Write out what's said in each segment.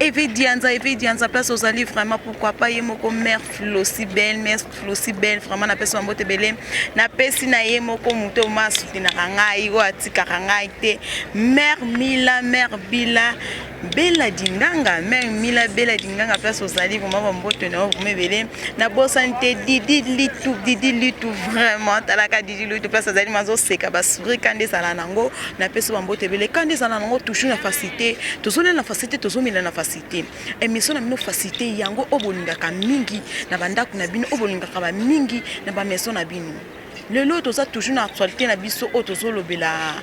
Eve Dianza, Eve Dianza, place ozali vraiment pourquoi pas ye moko mère Flosi belle, mère Flosi belle vraiment na pesa mbote belem. Na pesi na ye moko moto ma soutenaka ngai, oyo atikaka ngai te. Mère Mila, mère Bila, Bella Dinganga, mère Mila Bella Dinganga place ozali vraiment ba mbote na yo vraiment belem. Na bosani te Didi Litu, Didi Litu vraiment talaka Didi Litu place ozali mazo seka ba sourire kande sala nango na pesi ba mbote ebele kanda ezala nango toujours na facilité tozolela na facilité tozomela na facilité émission na bino facilité yango oyo bolingaka mingi na bandako na bino oyo bolingaka ba mingi na ba maison na bino lelo oyo toza toujours na actualité na biso oyo tozolobela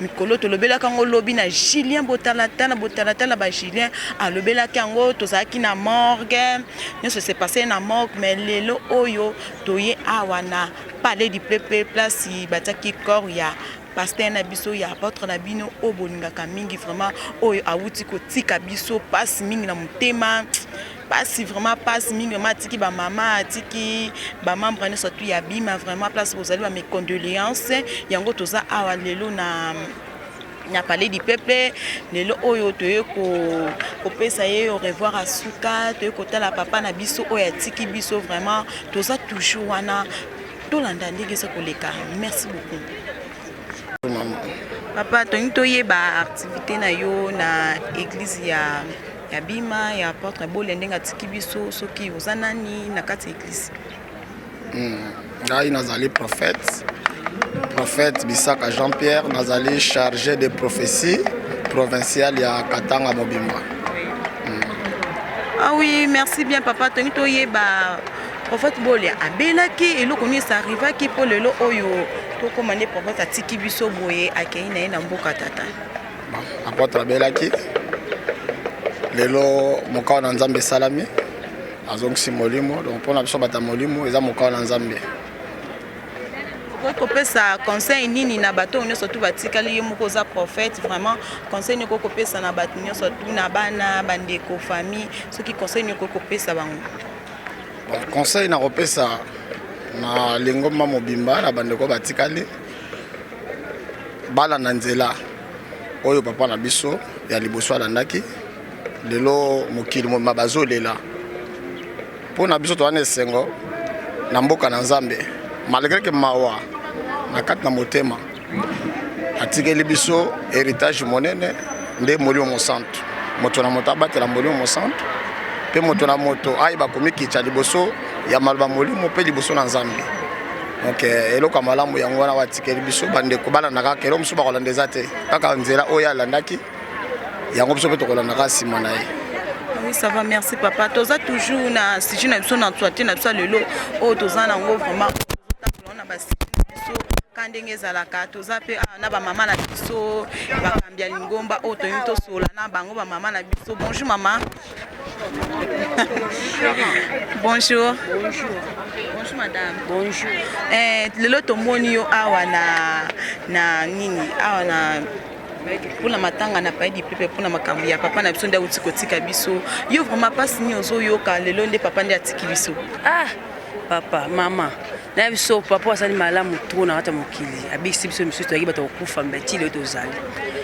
mikolo tolobelaka yango lobi na julien botalatala botalatala ba julien alobelaki yango tozalaki na morgue nyonso se passe na morgue mais lelo oyo toye awa na palais du peuple place batiaki corps ya Pasteur na biso ya apotre na bino oyo bolingaka mingi vraiment oyo awuti kotika biso pasi mingi na motema pasi vraiment pasi mingi vraiment atiki bamama atiki bamembre nyonso tu ya bima vraiment place bozali ba mes condoléances yango toza awa lelo na na palais du peuple lelo oyo toye kopesa ye au revoir ya suka toye kotala papa na biso oyo atiki biso vraiment toza toujours wana tolanda ndenge eza koleka merci beaucoup papa tolingi toyeba activité na yo na église ya ya bima ya porte bole ndenge atiki biso soki oza nani na kati ya église hmm, ngai nazali prophète prophète bisaka jean pierre nazali chargé de prophétie provinciale ya katanga mobimba oui, merci bien, papa. Tony Toyeba. Prophète Bolia abelaki eloko nini ça arrivaki mpo lelo oyo tokoma nde prophète atiki biso boye akei na ye na mboka tata apotre abelaki lelo mokao na nzambe esalami azongisi molimo donc mpo na biso bata molimo eza mokao na nzambe okoki kopesa conseil nini na bato oyo nyonso tu batikali ye moko oza prophète vraiment conseil nini okoki kopesa na bato nyonso tu na bana bandeko famille soki conseil nini okoki kopesa bango Bon, conseil na kopesa na lingomba mobimba na bandeko batikali balanda nzela oyo papa na biso ya liboso alandaki lelo mokili mobima bazolela mpo na biso towana esengo na mboka na nzambe malgre ke mawa na kati na motema atikeli biso heritage monene nde molimo mosantu moto na moto abatela molimo mosantu mpe moto na moto ayeba komikitya liboso ya maloba molimo mpe liboso na nzambe donc eh, eloko ya malamu yango wana batikeli biso bandeko balanda kaka eloko mosusu bakolanda eza te kaka nzela oyo alandaki yango biso mpe tokolanda kaka nsima na ye oui ça va merci papa toza toujours na sujet na biso na toite na biso ya lelo oyo toza nango vraiment na basi biso ka ndenge ezalaka toza mpe awa na bamama na biso bakambi ya lingomba oyo toyini tosola na bango bamama na biso bonjour mama bonjour bonjour bonjour madame bonjour eh, lelo tomoni yo awa na na nini awa na mpona matanga na paye dipepe mpona makambo ya papa na biso nde auti kotika biso yo vraiment mpasi nini ozoyoka lelo nde papa nde atiki biso ah papa mama na biso papa asali malamu tro na kati ya mokili abikisi biso misusu toyaki bato kokufa mbe ti leo tozali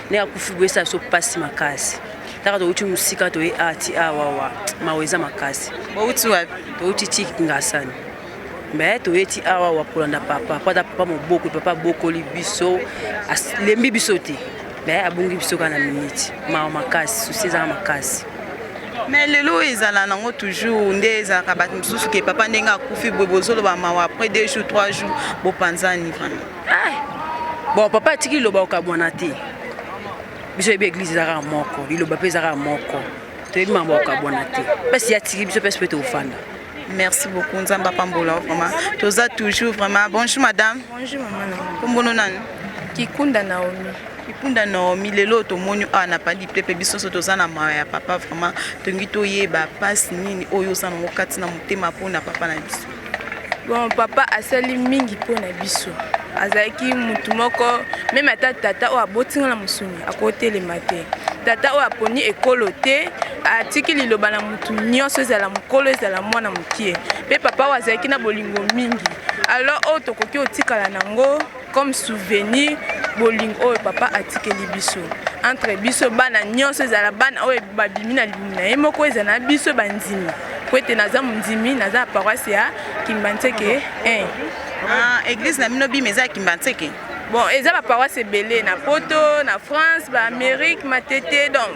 nde akufi boyesa biso mpasi makasi taka touti mosika toye ati ah, awawa ah, mawa eza makasi bouti wapi touti ti ngasani me toye ti awawa ah, kolanda papa po ata papa moboko papa abokoli biso alembi biso te me abungi biso kaka na miniti mawa makasi susi ezaka makasi mais lelo oyo ezala nango toujours nde ezalaka bato mosusu ke papa ndenge akufi boye bozoloba mawa après deux jours trois jours bopanzani vraiment ah! bon papa atiki liloba okabwana te biso yebi eglise ezalaka moko liloba mpe ezalaka moko toyebi makambo okabwana te mpasi atiki biso mpesi mpe tofanda Merci beaucoup Nzamba Pambola vraiment. Toza toujours vraiment. Bonjour madame. Bonjour maman. Kombono nani? Kikunda Naomi. Kikunda Naomi lelo tomoni awa na pali pepe biso nso toza na mawa ya papa vraiment tongi toyeba pasi nini oyo oza nango kati na motema mpo na papa na biso. Bon papa asali mingi mpo na biso. azalaki motu moko meme ata tata oyo aboti nga na mosuni akotelema te tata oyo aponi ekolo te atiki liloba na motu nyonso ezala mokolo ezala mwana mokie mpe papa oyo azalaki na bolingo mingi alors oyo tokoki kotikala nango comme souvenir bolingo oyo papa atikeli biso entre biso bana nyonso ezala bana oyo babimi na libumu na ye moko ezala na biso bandimi mpo ete naza mondimi naza na paroisse ya kimbanseke 1 ah, eglise na bino bima eza ya kimbanseke bon eza baparoise ebele na poto na france baamérique matete donc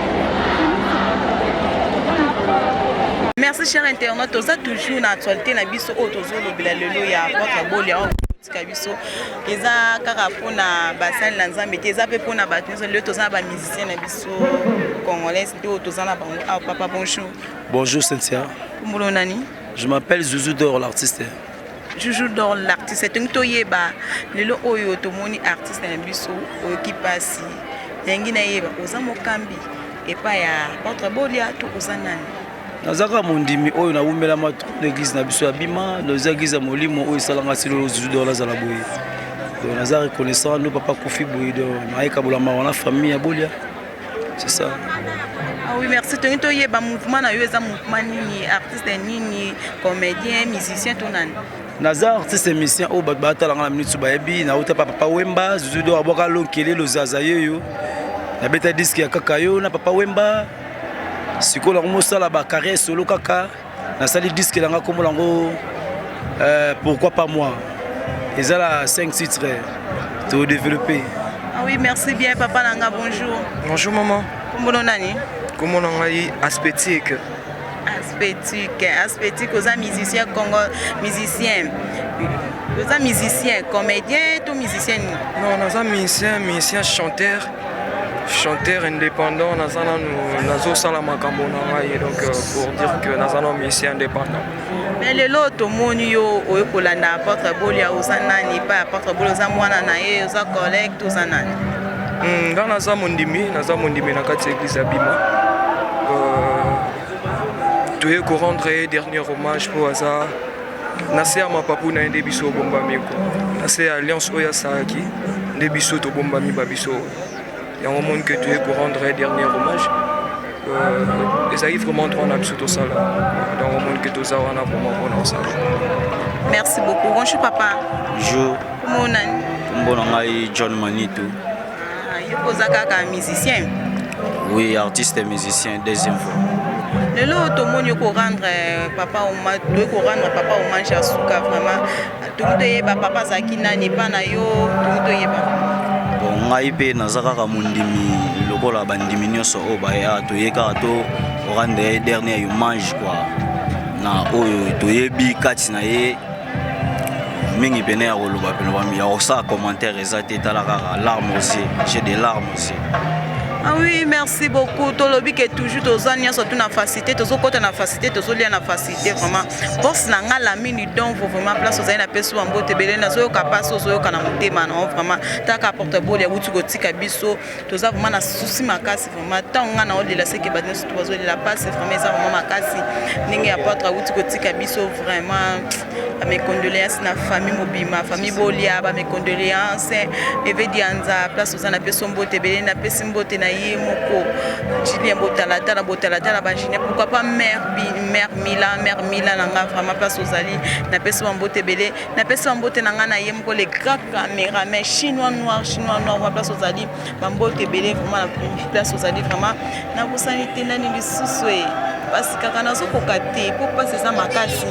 merci cher internaute toza toujours na actualité na biso oyo tozolobela lelo ya votre bolia tika biso eza kaka mpona basali na nzambe te eza mpe mpona bato nyonso lelo toza na bamusicien na biso congolaise nde oyo toza na bango awa ah, papa bonjour bonjour cynthia kumbolo nani je m'appelle zuzu dor l'artiste Juju Dor l'artiste etongi toyeba lelo oyo tomoni artiste na biso oyoki mpasi nalingi nayeba oza mokambi epai ya ordre bolia to oza nani naza kaka mondimi oyo nawumelama na eglise na biso ya bima naza eglise ya molimo oyo esalanga silolo Juju Dor nazala boye naza reconnaissant no papa kufi boye do nayekabola mawa na famille ya bolia C'est ça. Ah oui, merci. Tony Toye, ba mouvement na yo eza mouvement nini? Artiste nini? Comédien, musicien to nani? naza artiste émission oyo bato batalanga na minute bayebi nauta pa papa wemba zuzudo abwaka lonkele lozaza yeyo nabeta diske ya kaka yo na papa wemba sikoyo nango mosala bacarrière solo kaka nasali disque na nga kombo na yango euh, pourquoi pas moi eza na 5 titre todeveloppe ah oui merci bien papa na nga bonjour bonjour maman kombo no nani kombo na ngai aspétique aspétique aspétique oza musicien congo musicien oza musicien comédien to musicien nini non naza musicien musicien chanteur chanteur indépendant naza nanu nazosala makambo na ngai donc euh, pour dire que naza nanu musicien indépendant mais lelo tomoni yo oye kolanda apotre bolia oza nani epai apotre bolia oza mwana na ye oza collègue toza nani hmm, nga naza mondimi naza mondimi na kati ya église ya bima euh, toye korendre ye dernier hommage mpo aza na se ya mapapu na ye nde biso obombami ko na se ya alliance oyo asalaki nde biso tobombami ba biso yango omoni ke toye korendre ye dernier hommage euh, ezalaki vraiment droit na biso tosala donc omoni ke toza wana vraiment mpona kosala merci beaucoup bonjour papa bonjour kombo na ngai john manitu Ah, yo oza kaka musicien Oui, artiste et musicien, deuxième fois. lelo oyo tomoni yo korendre euh, papa oma toye korendre papa hommage ya suka vraiment tokoki toyeba papa azalaki nani epa na yo tokoki toyeba Bon, ngai mpe naza kaka mondimi lokola bandimi nyonso oyo baya toye kaka to orande ye dernier hommage kua na oyo toyebi kati na ye mingi pene ya koloba pene bami ya kosala commentaire eza te tala kaka larme osie j'ai des larmes osie Ah oui, merci beaucoup. Tolobi que toujours toza nionso tout na facilité, tozo kota na facilité, tozo lia na facilité vraiment. Boss na nga la mini donc vous vraiment place oza na peso en bote belé na zoyo kapasi ozo yoka na motema na vraiment. Taka porte bole ya wuti kotika biso, toza vraiment na souci makasi. vraiment ntango ngai naolela seke bato nyonso bazolela mpasi vraiment eza vraiment makasi ndenge ya poitre awuti kotika biso vraiment bamecondoléance na famille mobima famille bolia bamecondoléance eve dianza place oza na peso mbote ebele napesi mbote na ye moko julien botalatala botalatala bajulien pourquoi pas mère mère mila mère mila na ngai vraiment place ozali napesi bambote ebele napesi bambote na ngai na ye moko le grand cameraman chinois noir chinois noir wa place ozali bambote ebele vraimen na place ozali vraimen nabosani te nani lisusu e mpasi kaka nazokoka te mpo mpasi eza makasi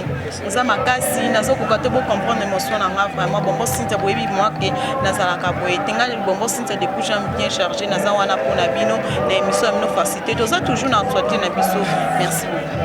eza makasi nazokoka te bocomprendre émotion na nga vraiment bombo sintia boyebi moi ke nazalaka boye te ngai bombo sintia depuis jam bien chargé naza wana mpo na bino na émission ya bino facilité toza toujours na actualité na biso merci beaucoup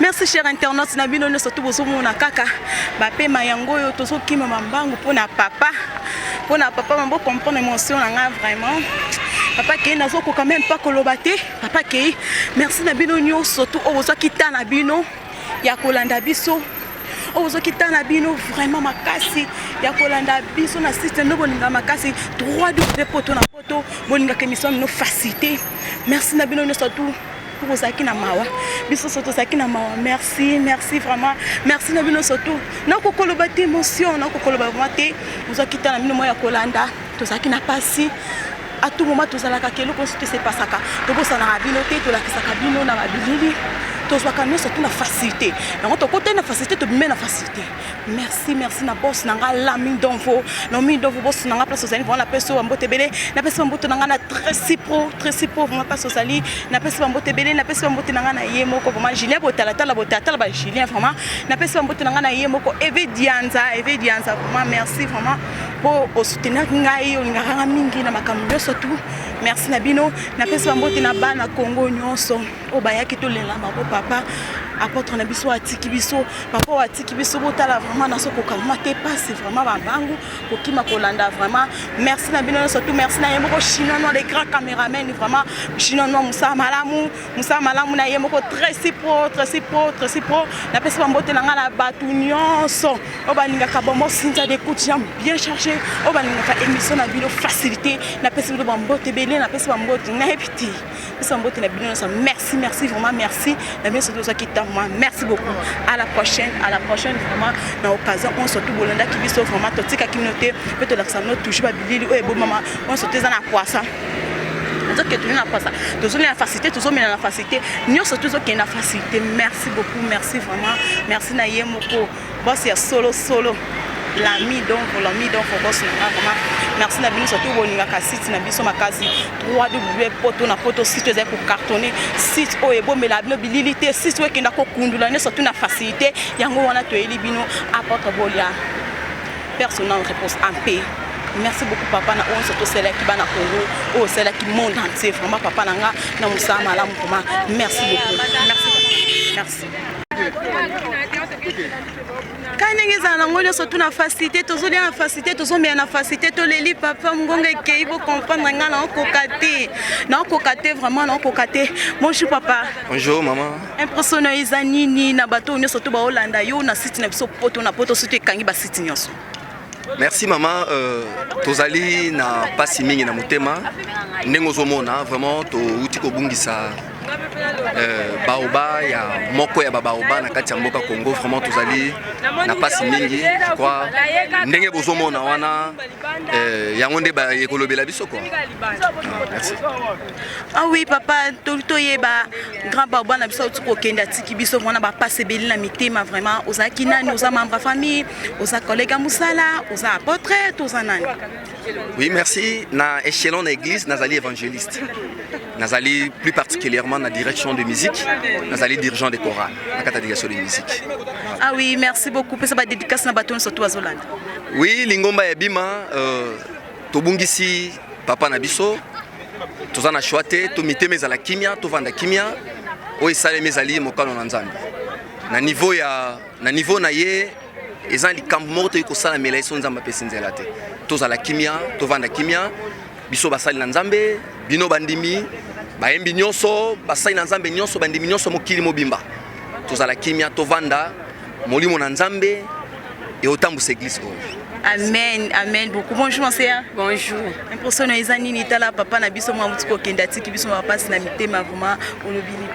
merci cher internaute na bino nyonso to bozomona kaka bapema yango oyo tozokima mambangu mpo na papa Pour na papa mambo comprendre émotion na nga vraiment papa kei nazokoka meme pas koloba te papa kei merci na bino nyonso tu oyo bozwaki ta na bino ya kolanda biso oyo bozwaki ta na bino vraiment makasi ya kolanda biso na site nde bolinga makasi 3 w poto na to bolingaka emission mino facilité merci na bino nyonso tout mpo bozalaki na mawa biso so tozalaki na mawa merci merci vraiment merci na bino surtout nakokoloba te émotion nakokoloba vraimen te ozwaki ta na bino mwa ya kolanda tozalaki na mpasi à tout moment tozalaka ke eloko nyonso te sepasaka tobosanaka bino te tolakisaka bino na babilili tozwaka nyonso tu na facilité yango tokotani na facilité tobimeli na facilité merci merci na bos na nga la mindonvo na mindonvo bos na nga place ozali vraiment napesi yo bambote ebele napesi bambote na nga na tresi pro tresi pro vraiment place ozali napesi bambote ebele napesi bambote na nga na ye moko vraiment julien botalatala botalatala ba julien vraiment napesi bambote na nga na ye moko eve dianza eve dianza vraiment merci vraiment mpo osoutenaki ngai olingaka nga mingi na makambo nyonso tu merci na bino napesi bambote na bana congo nyonso oyo bayaki tolela bango papa apôtre na biso atiki biso papa oyo atiki biso botala vraiment naso kokangama te pasi vraiment babangu kokima kolanda vraiment merci na bino nyonso tu merci na ye moko chinois noir le grand cameraman vraiment chinois noir mosala malamu mosala malamu na ye moko très si pro très si pro très si pro napesi bambote na ngai na bato nyonso oyo balingaka bombo sinza d'écoute jam bien chargé oyo balingaka émission na bino facilité napesi bino bambote ebele napesi bambote nayebi te pesa mbote na bino nyonso merci merci vraiment merci na bino soki ozwaki ntango mwa merci beaucoup à la prochaine à la prochaine vraiment na occasion oyo surtout bolandaki biso vraiment totikaki bino te mpe tolakisa bino toujours babilili oyo ebomama oyo surtout eza na kwasa tozokende tozali na kwasa tozomela na facilité tozomela na facilité nyonso tozokende na facilité merci beaucoup merci vraiment merci na ye moko Boss ya solo solo. Lami donc Lami donc boss na nga vraiment merci na bino surtout bolingaka site na biso makasi 3w poto na poto site ezali kocartonne site oyo ebombela bino bilili te site oyo ekenda kokundula nde surtout na facilité yango wana toyeli bino apotre bolia personnel repose en paix merci beaucoup papa na oyo nyonso tosalaki bana congo oyo osalaki monde entier vraiment papa na nga na mosala malamu koma merci beaucoup merci merci kani ndenge ezala nango nyonso tu na facilité tozolia na facilité tozomela na facilité toleli papa mongongo ekei bocomprendre ngai naokoka te naokoka te vraiment naokoka te bonjour papa bonjour mama impression na yo eza nini na bato oyo nyonso to baolanda yo na site na biso poto na poto soki ekangi basite nyonso Merci maman, euh, tozali na pasi mingi na motema ndenge ozomona vraiment touti kobungisa euh, baoba ya moko ya babaoba na kati ya mboka Congo vraiment tozali na pasi mingi je crois ndenge bozomona wana euh, yango nde baye kolobela biso quoi merci ah oui papa toyeba grand baoba na biso auti kokende atiki biso vraiment na bapasi ebeli na mitema vraiment ozalaki nani oza membre ya famille oza collègue ya mosala oza apotre to oza nani oui merci na échelon na église nazali évangéliste nazali plus particulièrement na direction de musique nazali dirigeant de chorale na kati ya direction de musique ah oui merci beaucoup pesa badédicace na bato nyonso to bazolanda oui lingomba ya bima euh, tobungisi papa na biso toza na choix te to mitema ezala kimia tovanda kimia oyo esalemi ezali mokano na nzambe na niveau ya na niveau na ye eza likambo moko toyei kosalamela ye so nzambe apesi nzela te tozala kimia tovanda kimia biso basali na nzambe bino bandimi bayembi nyonso basali na nzambe nyonso bandimi nyonso mokili mobimba tozala kimia tovanda molimo na nzambe eotambwisa eglise oyo amen amen beaucoup bonjour monseigneur bonjour impression na eza nini tala papa na biso mwa mutu kokende atiki biso mapasi na mitema vraimen olobi nini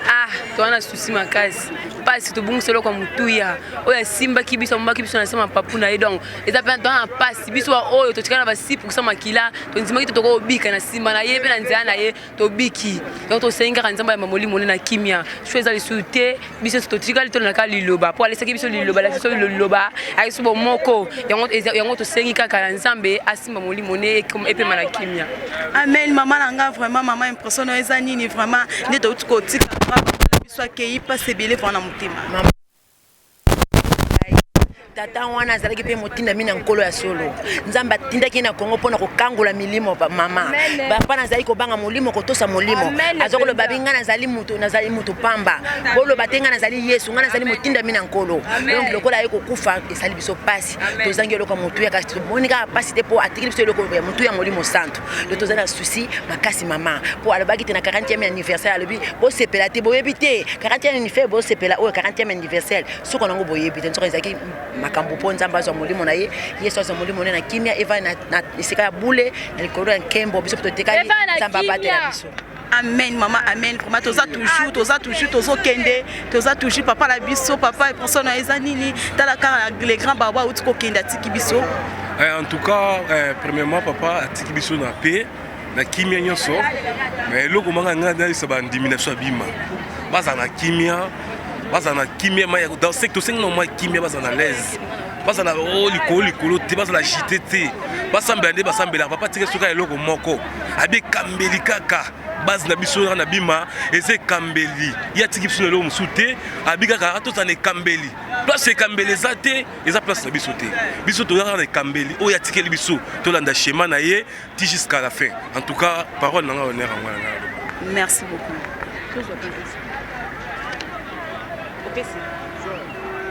ah towana susi makasi pasi tobungisa eloko ya motuya oyo asimbaki biso amobaki biso na nsima papu na ye donc eza mpe tona na pasi biso baoyo totikala na basi poursa makila tondimaki te tokoki kobika na nsima na ye mpe na nzela na ye tobiki donc tosengi kaka nzambe ya mamoli mone na kimia sho eza lisusu te biso totikali tolonaka liloba mpo alesaki biso liloba alaki biso liloba ayaki biso bomoko yango tosengi kaka na nzambe asimba molimo ne epema na kimia amen mama na nga vraiment mama impression oyo eza nini vraiment nde touti kotika Yesu akeyi pasi ebele vana na motema. tata wana azalaki mpe motindami na nkolo ya solo nzambe atindaki ye na kongo mpo na kokangola milimo mama bapa nazali kobanga molimo kotosa molimo aza koloba bi ngai nazali moto nazali moto pamba boloba te ngai nazali yesu ngai nazali motindami na nkolo donc lokola aye kokufa esali biso mpasi tozangi eloko ya motuya kasi tomoni kaka mpasi te mpo atikili biso eloko ya motuya ya molimo santu le toza na souci makasi mama mpo alobaki te na 40e anniversaire alobi bosepela te boyebi te 40e anniversaire bosepela oyo 40e anniversaire soko nango boyebi te nsoka ezalaki makambo mpo nzambe azwa molimo na ye yesu azwa molimo na ye na kimia evai na esika ya bule na likolo ya nkembo biso mpe totekali nzambe abatela biso Amen maman amen vraiment toza toujours toza toujours tozo kende toza toujours papa la biso papa et personne na eza nini tala kaka le grand babo auti ko kende atiki biso eh, en tout cas eh, premièrement papa atiki biso na paix na kimia nyonso mais eloko manga ngai nayebisa bandimi na biso ya bima baza na kimia baza na kimia mai dans secte osengi na mwa kimia baza na laise baza na o oh, likolo likolo te baza na jite te basambela nde basambelaka papa tika soki eloko moko abi ekambeli kaka base na biso wana na bima eza ekambeli ye atiki biso na eloko mosusu te abi kaka atozala na ekambeli place ekambeli eza te eza place na biso te biso toza kaka na ekambeli oyo atikeli biso tolanda schéma na ye ti jusqu'à la fin en tout cas parole na ngai honneur yango na ngai merci beaucoup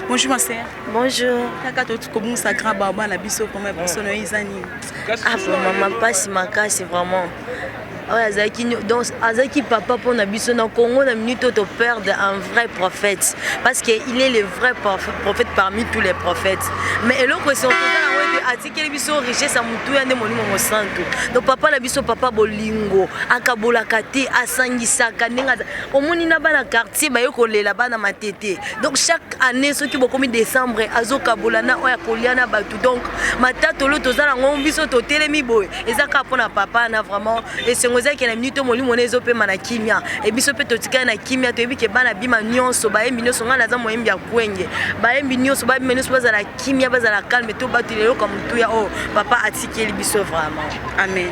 Bonjour ma sœur. Bonjour. Kaka totu kobungisa grand baba na biso vraiment biso na yo eza nini? Ah mama mpasi makasi vraiment. oyo azalaki donc azalaki papa mpo na biso na congo na minute oyo toperde un vrai prophète parce que il est le vrai prophète parmi tous les prophètes mais eloko esokoza yango ete atikeli biso richesse ya motuya nde molimo mosantu donc papa na biso papa bolingo akabolaka te asangisaka ndenge omoni na bana quartier baye kolela bana matete donc chaque année soki bokomi décembre azokabola na oyo akolia na bato donc matatolo toza nango biso totelemi boye eza kaka mpona papa na vraiment esengo ezalaki na minute molimo na ezopema na kimia e biso mpe totikali na kimia toyebi ke bana bima nyonso bayembi nyonso ngai naza moyembi ya kwenge bayembi nyonso babima nyonso bazala kimia bazala calme tobatela eloko ya motuya oyo papa atikeli biso vraiment amen